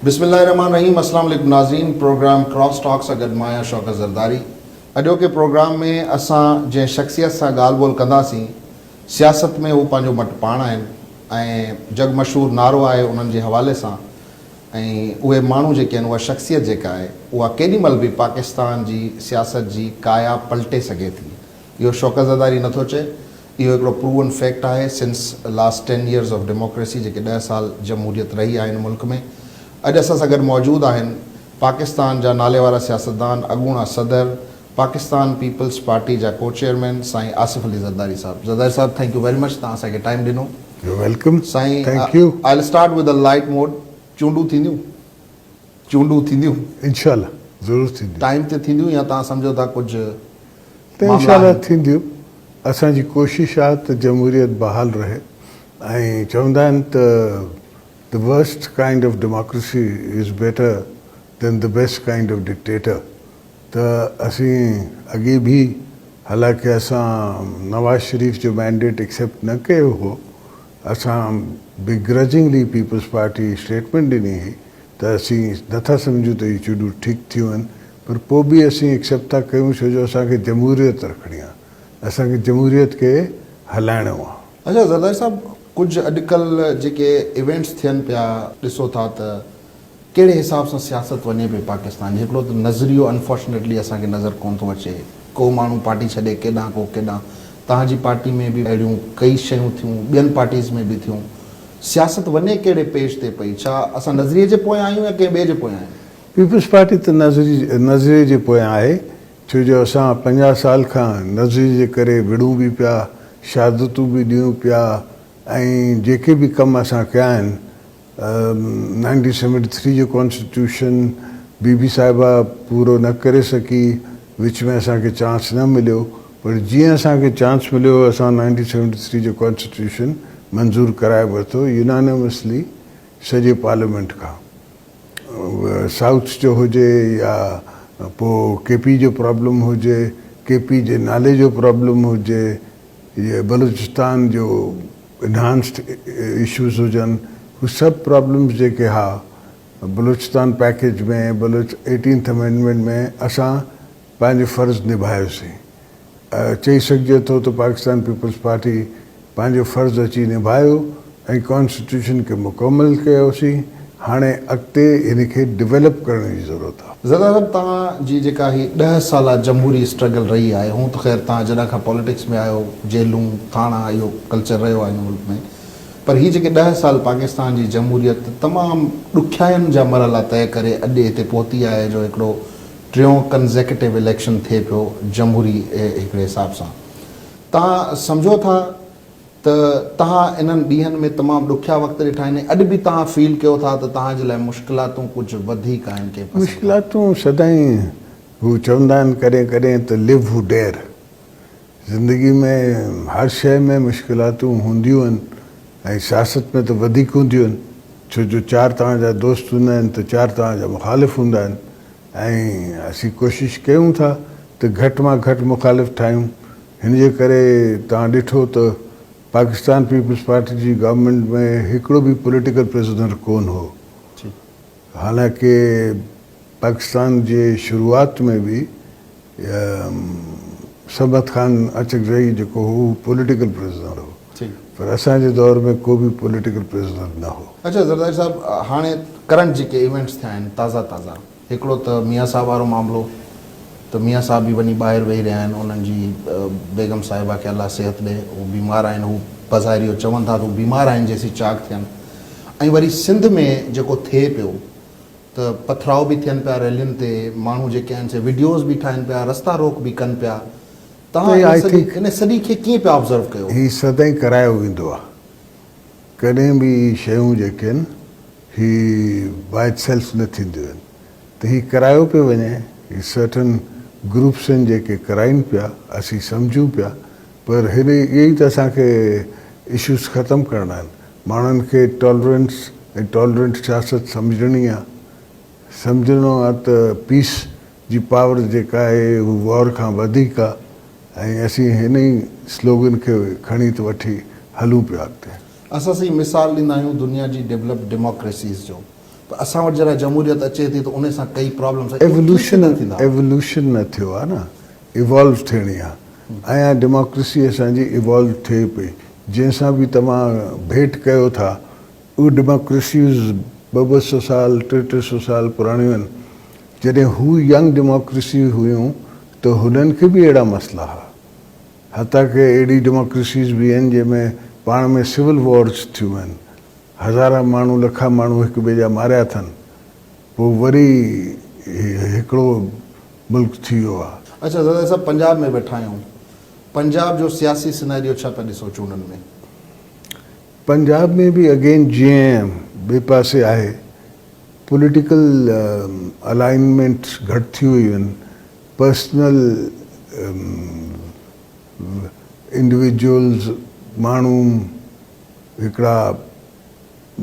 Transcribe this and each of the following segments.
بسم الله الرحمٰن الرحيم اسلام عليڪم ناظرين پروگرام ڪراس ٽاڪ سان گڏ مان آهيان شوڪت زرداري اڄوڪي پروگرام ۾ اسان جنهن شخصيت سان ڳالهه ٻولهه ڪنداسين سياست ۾ هو پنهنجو مٽ پاڻ آهن ۽ جڳ مشهور نعرو آهي انهن جي حوالي سان ۽ اهي ماڻهو جيڪي آهن اها شخصيت جيڪا آهي اها ڪيڏي مهل به پاڪستان جي سياست جي ڪايا پلٽي سگهي ٿي اهو شوڪت زرداري نٿو چئي اهو هڪڙو پروون فيڪٽ آهي سنس لاسٽ ٽين يئرز آف ڊيموڪريسي جيڪي ڏهه سال جمهوريت رهي آهي هن ملڪ ۾ اڄ اسان سان گڏ موجود آهن پاڪستان جا ناليوارا سياستدان اڳوڻا صدر پاڪستان پيپلز پارٽي جا ڪوچيئرمين سائين آصف علي زرداري صاحب زرداري صاحب ٿينڪ يو ويري مچ توهان اسان کي ٽائيم ڏنو يو ويلڪم سائين I will start with a light mood چونڊون ٿينديون؟ چونڊون ٿينديون؟ انشاء الله ضرور ٿينديون. ٽائيم تي ٿينديون يا توهان سمجهو ٿا ڪجهه ته انشاء معاملا الله آهن؟ ٿينديون اسان جي ڪوشش آهي ته جمهوريت بحال رهي ۽ چوندا آهن ته The worst kind of democracy is better than the best kind of dictator ته اسين اڳي به حالانڪه اسان نواز شريف جو مينڊيٽ ايڪسيپٽ نه ڪيو هو اسان Begrudgingly پيپلز پارٽي اسٽيٽمينٽ ڏني هئي ته اسين نٿا سمجهون ته اهي چونڊون ٺيڪ ٿيون آهن پر پوء به اسين ايڪسيپٽ ٿا ڪيون ڇو جو اسان کي جمهوريت رکڻي آهي اسان کي جمهوريت کي هلائڻو آهي. اچا زرداري صاحب ڪجهه اڄڪلهه جيڪي ايونٽس ٿين پيا ڏسو ٿا ته. ڪهڙي حساب سان سياست وڃي پئي پاڪستان جي هڪڙو ته نظريو انفارچونيٽلي اسان کي نظر ڪون ٿو اچي ڪو ماڻهو پارٽي ڇڏي ڪيڏانهن ڪو ڪيڏانهن توهان جي پارٽي ۾ به اهڙيون ڪئي شيون ٿيون ٻين پارٽيز ۾ به ٿيون سياست وڃي ڪهڙي پيج تي پئي ڇا اسان نظريي جي پويان آهيون يا ڪنهن ٻئي جي پويان آهيون. پيپلز پارٽي ته نظريي جي پويان آهي ڇو جو اسان پنجاهه سال کان نظريي جي ڪري وڙهون به پيا شهادتون به ڏيون پيا ۽ جيڪي به ڪم اسان ڪيا آهن نائنٽين سيونٽي ٿري جو ڪانسٽيٽيوشن بي بي صاحبه پورو نه ڪري سگهي، وچ ۾ اسان کي چانس نه مليو پر جيئن اسان کي چانس مليو اسان نائنٽين سيونٽي ٿري جو ڪانسٽيٽيوشن منظور ڪرائي ورتو يونانيمسلي سڄي پارليامينٽ کان اهو سائوٿ جو هجي يا پوء ڪي پي جو پرابلم هجي ڪي پي جي نالي جو پرابلم هجي يا بلوچستان جو انهانسڊ اشوز هجن هو سڀ پرابلمز جيڪي ها Balochistan package ۾ Baloch eighteenth amendment ۾ اسان پنهنجو فرض نڀايوسين چئي سگهجي ٿو ته پاڪستان پيپلز پارٽي پنهنجو فرض اچي نڀايو ۽ ڪانسٽيٽيوشن کي مڪمل ڪيوسين هاڻي اڳتي ان کي ڊويلپ ڪرڻ جي ضرورت آ. ظهير عرب توهان جي جيڪا هي ڏهه سالا جمهوري اسٽرگل رهي آهي هونء ته خير توهان جڏهن کان پاليٽڪس ۾ آيو جيلون ٿاڻا اهو ڪلچر رهيو آهي هن ملڪ ۾ پر هي جيڪي ڏهه سال پاڪستان جي جمهوريت تمام ڏکيائين جا مرحلا طئي ڪري اڄ هتي پهتي آهي جو هڪڙو ٽيون ڪنزيڪيٽو اليڪشن ٿئي پيو جمهوري هڪڙي حساب سان توهان سمجهو ٿا ته توهان انهن ڏينهن ۾ تمام ڏکيا وقت ڏٺا آهن ۽ اڄ به توهان فيل ڪيو ٿا ته توهان جي لاء مشڪلاتون ڪجهه وڌيڪ آهن ڪنهن قسم کان. مشڪلاتون سدائين هو چوندا آهن ڪڏهن ڪڏهن ته Live Who Dare زندگي ۾ هر شيء ۾ مشڪلاتون هونديون آهن ۽ سياست ۾ ته وڌيڪ هونديون آهن ڇو جو چار توهان جا دوست هوندا آهن ته چار توهان جا مخالف هوندا آهن ۽ اسين ڪوشش ڪيون ٿا ته گهٽ مان گهٽ مخالف ٺاهيون هن جي ڪري توهان ڏٺو ته پاڪستان پيپلز پارٽي جي گورنمينٽ ۾ هڪڙو به پوليٽيڪل پرزنر ڪون هو حالانڪه پاڪستان جي شروعات ۾ به سرمد خان اچڪزئي جيڪو هو هو پوليٽيڪل پرزنر هو پر اسان جي دور ۾ ڪو به پوليٽيڪل پرزنر نه هو. اڇا زرداري صاحب هاڻي ڪرنٽ جيڪي ايونٽس ٿيا آهن تازا تازا. هڪڙو ته ميان صاحب وارو معاملو ته ميان صاحب به وڃي ٻاهر ويهي رهيا آهن انهن جي بيگم صاحبه کي الله صحت ڏي هو بيمار آهن هو بظاهر اهو چون ٿا ته هو بيمار آهن جيسين چاق ٿين ۽ وري سنڌ ۾ جيڪو ٿئي پيو ته پٿراء به ٿين پيا ريلين تي ماڻهو جيڪي آهن سي وڊيوز به ٺاهين پيا رستا روڪ به ڪن پيا تهان ان سڄي کي ڪيئن پيا آبزرو ڪيو. هي سدائين ڪرايو ويندو آهي. ڪڏهن به اهي شيون جيڪي آهن هي By Itself نه ٿينديون آهن ته هي ڪرايو پيو وڃي هي Certain Groups آهن جيڪي ڪرائين پيا اسين سمجهون پيا پر هن اهي ئي ته اسان کي Issues ختم ڪرڻا آهن ماڻهن کي Tolerance ۽ Tolerant سياست سمجهڻي آهي سمجهڻو آهي ته Peace جي پاور جيڪا آهي هو وار کان وڌيڪ آ ۽ اسين هن ئي سلوگن کي کڻي ته وٺي هلون پيا اڳتي. اسان سائين مثال ڏيندا آهيون دنيا جي ڊيولپڊ ڊيموڪريسيز جو ته اسان وٽ جڏهن جمهوريت اچي ٿي ته ان سان ڪئي پرابلمز ايون ڪيئن ايولوشن پيدا ٿيندا. ايولوشن نه ٿيو آ نه ايوالو ٿيڻي آ ۽ اها ڊيموڪريسي اسان جي ايوالو ٿئي پئي جنهن سان به توهان ڀيٽ ڪيو ٿا. اهي ڊيموڪريسيز ٻه ٻه سؤ سال، ٽي ٽي سؤ سال پراڻيون آهن. جڏهن هو ينگ ڊيموڪريسيز هيون ته هنن کي به اهڙا مسئلا ها. حتيٰ ڪي اهڙي ڊيموڪريسيز به آهن جنهن ۾ پاڻ ۾ سول وارز ٿيون آهن. هزارها ماڻهو، لکا ماڻهو هڪ ٻئي جا ماريا اٿن. پوء وري هڪڙو ملڪ ٿي ويو آهي. اڇا زرداري صاحب پنجاب ۾ ويٺا آهيون پنجاب جو سياسي سيناريو ڇا پيا ڏسو چونڊن ۾؟ پنجاب ۾ به اگين جي اين ايم ٻئي پاسي آهي، پوليٽيڪل الائنمينٽس گهٽ ٿيون ويون، پرسنل انڊيويجوئلز ماڻهو هڪڙا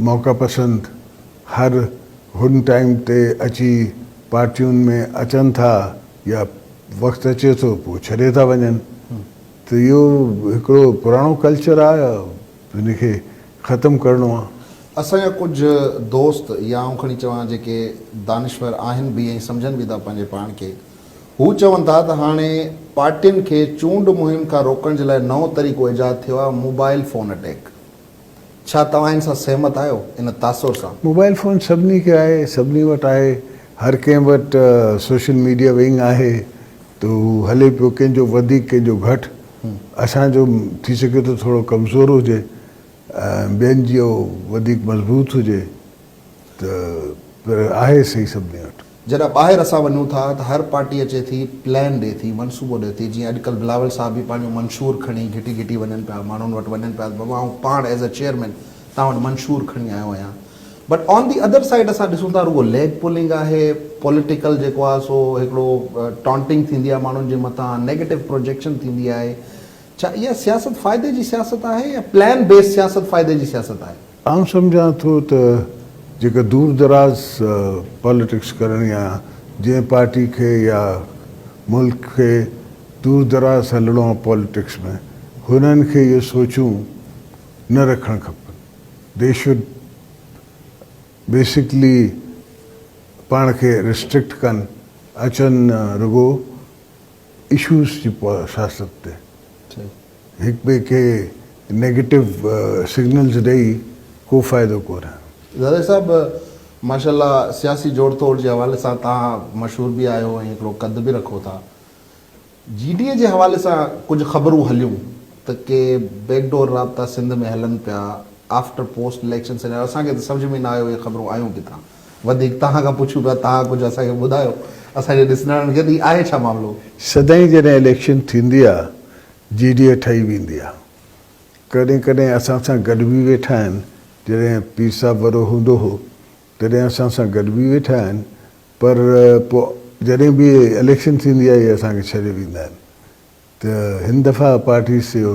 موقعا پسند هر هن ٽائيم تي اچي پارٽيون ۾ اچن ٿا يا وقت اچي ٿو پوء ڇڏي ٿا وڃن ته اهو هڪڙو پراڻو ڪلچر آ ان کي ختم ڪرڻو آ. اسان جا ڪجهه دوست يا آئون کڻي چوان جيڪي دانشور آهن به ۽ سمجهن به ٿا پنهنجي پاڻ کي هو چون ٿا ته هاڻي پارٽين کي چونڊ مهم کان روڪڻ جي لاء نئون طريقو ايجاد ٿيو آ موبائل فون اٽيڪ. ڇا توهان ان سان سهمت آهيو؟ ان تاثر سان. موبائل فون سڀني کي آهي، سڀني وٽ آهي، هر ڪنهن وٽ سوشل ميڊيا ونگ آهي ته هو هلي پيو، ڪنهن جو وڌيڪ ڪنهن جو گهٽ، اسان جو ٿي سگهي ٿو ٿورو ڪمزور هجي ۽ ٻين جيو وڌيڪ مضبوط هجي ته پر آهي سهي سڀني وٽ. جڏهن ٻاهر اسان وڃون ٿا ته هر پارٽي اچي ٿي پلان ڏي ٿي منصوبو ڏي ٿي جيئن اڄڪلهه بلاول صاحب به پنهنجو منشور کڻي گهٽي گهٽي وڃن پيا ماڻهن وٽ وڃن پيا ته بابا آئون پاڻ ايز اي چيئرمين توهان وٽ منشور کڻي آيو آهيان but on the other side اسان ڏسون ٿا رڳو ليگ پولنگ آهي پوليٽيڪل جيڪو آهي سو هڪڙو ٽانٽنگ ٿيندي آهي ماڻهن جي مٿان نيگيٽو پروجيڪشن ٿيندي آهي ڇا اها سياست فائدي جي سياست آهي يا پلان بيس سياست فائدي جي سياست آهي. آئون سمجهان ٿو ته جيڪا دور دراز پاليٽڪس ڪرڻي آ جنهن پارٽي کي يا ملڪ کي دور دراز هلڻو آ پاليٽڪس ۾ هنن کي اهي سوچون نه رکڻ کپن دي شوڊ بيسڪلي پاڻ کي ريسٽرڪٽ ڪن اچن رڳو اشوز جي سياست تي. هڪٻئي کي نيگيٽو سگنلز ڏئي ڪو فائدو ڪونه. زرعي صاحب ماشاء الله سياسي جوڙ توڙ جي حوالي سان توهان مشهور به آهيو ۽ هڪڙو قد به رکو ٿا جي ڊي اي جي حوالي سان ڪجهه خبرون هليون ته ڪي بيڪ ڊور رابطا سنڌ ۾ هلن پيا آفٽر پوسٽ اليڪشن سيناريو اسان کي ته سمجهه ۾ نه آيو اهي خبرون آيون ڪٿان وڌيڪ توهان کان پڇون پيا، توهان ڪجهه اسان کي ٻڌايو، اسان جي ڏسندڙن کي ته آهي ڇا معاملو؟ سدائين جڏهن اليڪشن ٿيندي آ جي ڊي اي ٺهي ويندي آ ڪڏهن ڪڏهن اسان سان گڏ به ويٺا آهن جڏهن پير صاحب وڏو هوندو هو تڏهن اسان سان گڏ به ويٺا آهن پر پو جڏهن به اليڪشن ٿيندي آ اهي اسان کي ڇڏي ويندا آهن ته هن دفعا پارٽي سيو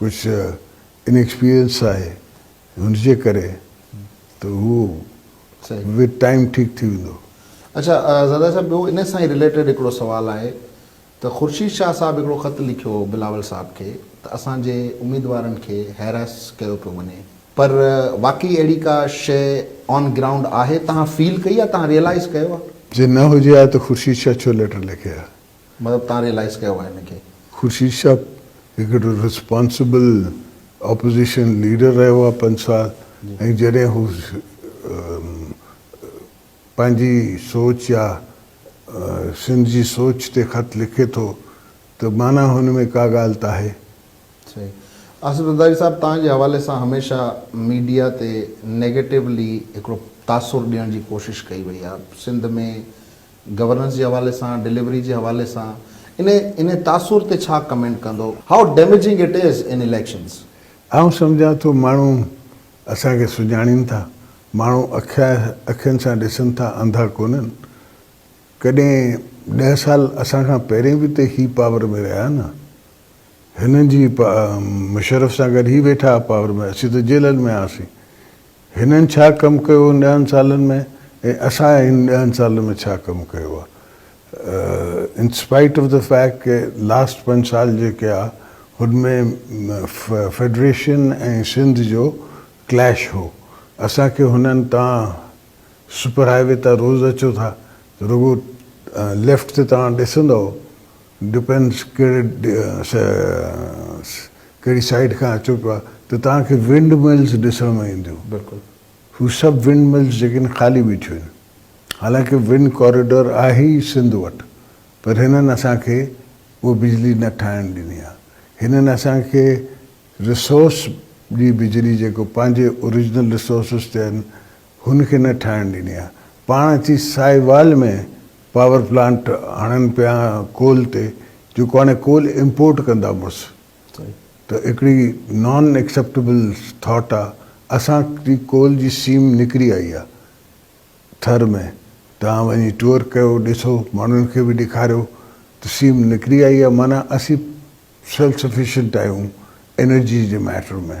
ڪجهه ان ايڪسپيرينس آهي ان جي ڪري ته هو وٿ ٽائيم ٺيڪ ٿي ويندو. اڇا زرداري صاحب ٻيو ان سان ئي رليٽيڊ هڪڙو سوال آهي ته خورشيد شاهه صاحب هڪڙو خط لکيو هو بلاول صاحب کي ته اسان جي اميدوارن کي هيراس ڪيو پيو وڃي پر واقعي اهڙي ڪا شيء آن گرائونڊ آهي تهان فيل ڪئي آهي تهان ريئلائيز ڪيو آهي. جي نه هجي ها ته خورشيد شاهه ڇو ليٽر لکي ها. مطلب تان ريئلائز ڪيو آهي ان کي. خورشيد صاحب هڪڙو رسپانسبل اپوزيشن ليڊر رهيو آهي پنج سال ۽ جڏهن هو پنهنجي سوچ يا سنڌ جي سوچ تي خط لکي ٿو ته معنيٰ هن ۾ ڪا ڳالهه ته آهي. صحيح. آصف زرداري صاحب توهان جي حوالي سان هميشه ميڊيا تي نيگيٽولي هڪڙو تاثر ڏيڻ جي ڪوشش ڪئي وئي آهي سنڌ ۾ گورننس جي حوالي سان ڊليوري جي حوالي سان انهي انهي تاثر تي ڇا ڪمينٽ ڪندو high damaging it is in elections. آئون سمجهان ٿو ماڻهو اسان کي سڃاڻين ٿا ماڻهو اکيا اکين سان ڏسن ٿا انڌا ڪونهن ڪڏهن ڏهه سال اسان کان پهرين به ته هي پاور ۾ رهيا نه هنن جي مشرف سان گڏ هي ويٺا ها پاور ۾ اسين ته جيلن ۾ هئاسين هنن ڇا ڪم ڪيو ان ڏهن سالن ۾ ۽ اسان ان ڏهن سالن ۾ ڇا ڪم ڪيو آ in spite of the fact ڪي لاسٽ پنج سال جيڪي آ هن ۾ فيڊريشن ۽ سنڌ جو ڪليش هو اسان کي هنن تان سپر هاء وي تان روز اچو ٿا ته رڳو ليفٽ تي توهان ڏسندؤ ڊپينس ڪهڙي ڪهڙي سائيڊ کان اچو پيا ته توهان کي ونڊ ملز ڏسڻ ۾ اينديون. بلڪل. هو سڀ ونڊ ملز جيڪي آهن خالي بيٺيون آهن. حالانڪه ونڊ ڪاريڊور آهي ئي سنڌ وٽ پر هنن اسان کي اها بجلي نه ٺاهڻ ڏني آهي. هنن اسان کي رسورس جي بجلي جيڪو پنهنجي اوريجنل رسورسز تي آهن. هن کي نه ٺاهڻ ڏني آهي پاڻ اچي ساهيوال ۾ پاور پلانٽ هڻن پيا ڪول تي جيڪو هاڻي ڪول امپورٽ ڪندا مڙس ته هڪڙي نان ايڪسيپٽيبل ٿاٽ آهي اسان جي ڪول جي سيم نڪري آئي آهي ٿر ۾ توهان وڃي ٽوئر ڪيو ڏسو ماڻهن کي به ڏيکاريو ته سيم نڪري آئي آهي معنيٰ اسين سيلف سفيشنٽ آهيون انرجي جي ميٽر ۾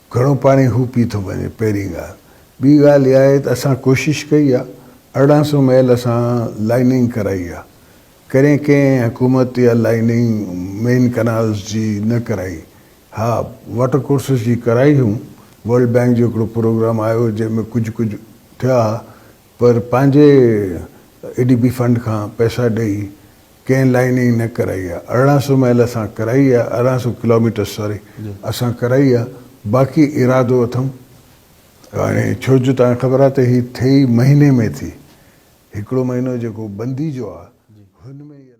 گهڻو پاڻي هو پي ٿو وڃي پهرين ڳالهه. ٻي ڳالهه اها آهي ته اسان ڪوشش ڪئي آهي ارڙهن سو ميل اسان لائننگ ڪرائي آهي. پهرين ڪنهن حڪومت اها لائننگ مين ڪئنالز جي نه ڪرائي. ها واٽر ڪورسز جي ڪرائي هئون. ورلڊ بئنڪ جو هڪڙو پروگرام آيو جنهن ۾ ڪجهه ڪجهه ٿيا ها پر پنهنجي اي ڊي بي فنڊ کان پئسا ڏئي ڪنهن لائين ئي نه ڪرائي آ ارڙهن سو ميل اسان ڪرائي آ ارڙهن سو ڪلو ميٽر سوري اسان ڪرائي آ باقي ارادو اٿم هاڻي ڇو جو تان کي خبر آ ته هي ٿئي مهيني ۾ ٿي هڪڙو مهينو جيڪو بندي جو آ هن ۾